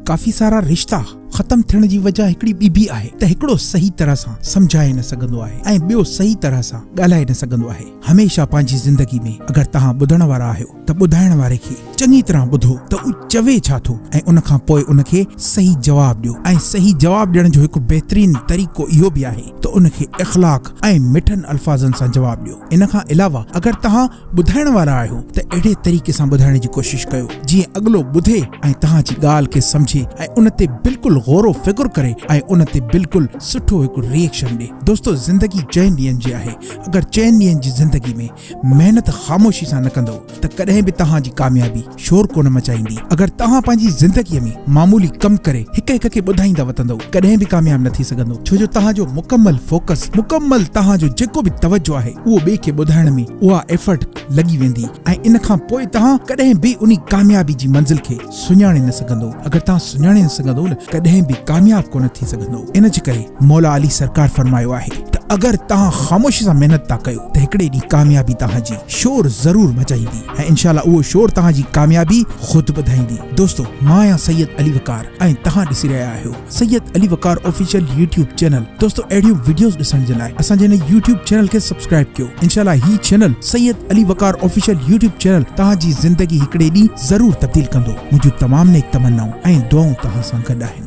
ڪافي سارا رشتا ختم ٿيڻ جي وجه هڪڙي ٻي به آهي ته هڪڙو صحيح طرح سان سمجهائي نه سگهندو آهي ۽ ٻيو صحيح طرح سان ڳالهائي نه سگهندو آهي هميشه پنهنجي زندگي ۾ اگر توهان ٻڌڻ وارا آهيو ته ٻڌائڻ واري کي چڱي طرح ٻڌو ته هو چوي ڇا ٿو ۽ ان کان پوء ان کي صحيح جواب ڏيو ۽ صحيح جواب ڏيڻ جو هڪ بهترين طريقو اهو به آهي ته ان کي اخلاق ۽ مٺن الفاظن سان جواب ڏيو ان کان علاوه اگر توهان ٻڌائڻ وارا آهيو ته اهڙي طريقي سان ٻڌائڻ جي ڪوشش ڪيو جيئن اڳلو ٻڌي ۽ توهان جي ڳالهه کي سمجهي ۽ ان تي بلڪل غور و فڪر ڪري ۽ ان تي بلڪل سٺو هڪ ريئڪشن ڏي دوستو زندگي چئن ڏينهن جي آهي اگر چئن ڏينهن جي زندگي ۾ محنت خاموشي سان نه ڪندئو ته ڪڏهن به توهان جي ڪاميابي شور ڪونه مچائيندي. اگر توهان پنهنجي زندگيء ۾ معمولي ڪم ڪري هڪ هڪ کي ٻڌائيندا وتندؤ، ڪڏهن به ڪامياب نه ٿي سگهندؤ، ڇو جو توهان جو مڪمل فوڪس، مڪمل توهان جو جيڪو به توجه آهي، اهو ٻئي کي ٻڌائڻ ۾ اها ايفرٽ لڳي ويندي ۽ ان کان پوء توهان ڪڏهن به انهي ڪاميابي جي منزل کي سڃاڻي نه سگهندؤ، اگر توهان سڃاڻي نه سگهندؤ نه ڪڏهن به ڪامياب ڪونه ٿي سگهندؤ، ان جي ڪري مولا علي سرڪار فرمايو آهي ته اگر توهان خاموشي سان محنت ٿا ڪيو ته هڪڙي ڏينهن ڪاميابي توهان جي شور ضرور مچائيندي. ۽ انشاء الله اهو شور توهان جي ڪاميابي خود ٻڌائيندي دوستو مان آهيان سيد علي وقار ۽ توهان ڏسي رهيا آهيو Syed Ali Waqar official YouTube channel دوستو اهڙيون وڊيوز ڏسڻ جي لاء اسان جي هن يوٽيوب چينل کي سبسڪرائب ڪيو انشاء الله هي channel Syed Ali Waqar official YouTube channel توهان جي زندگي هڪڙي ڏينهن ضرور تبديل ڪندو منهنجون تمام نيڪ تمنائون ۽ دعائون توهان سان گڏ آهن.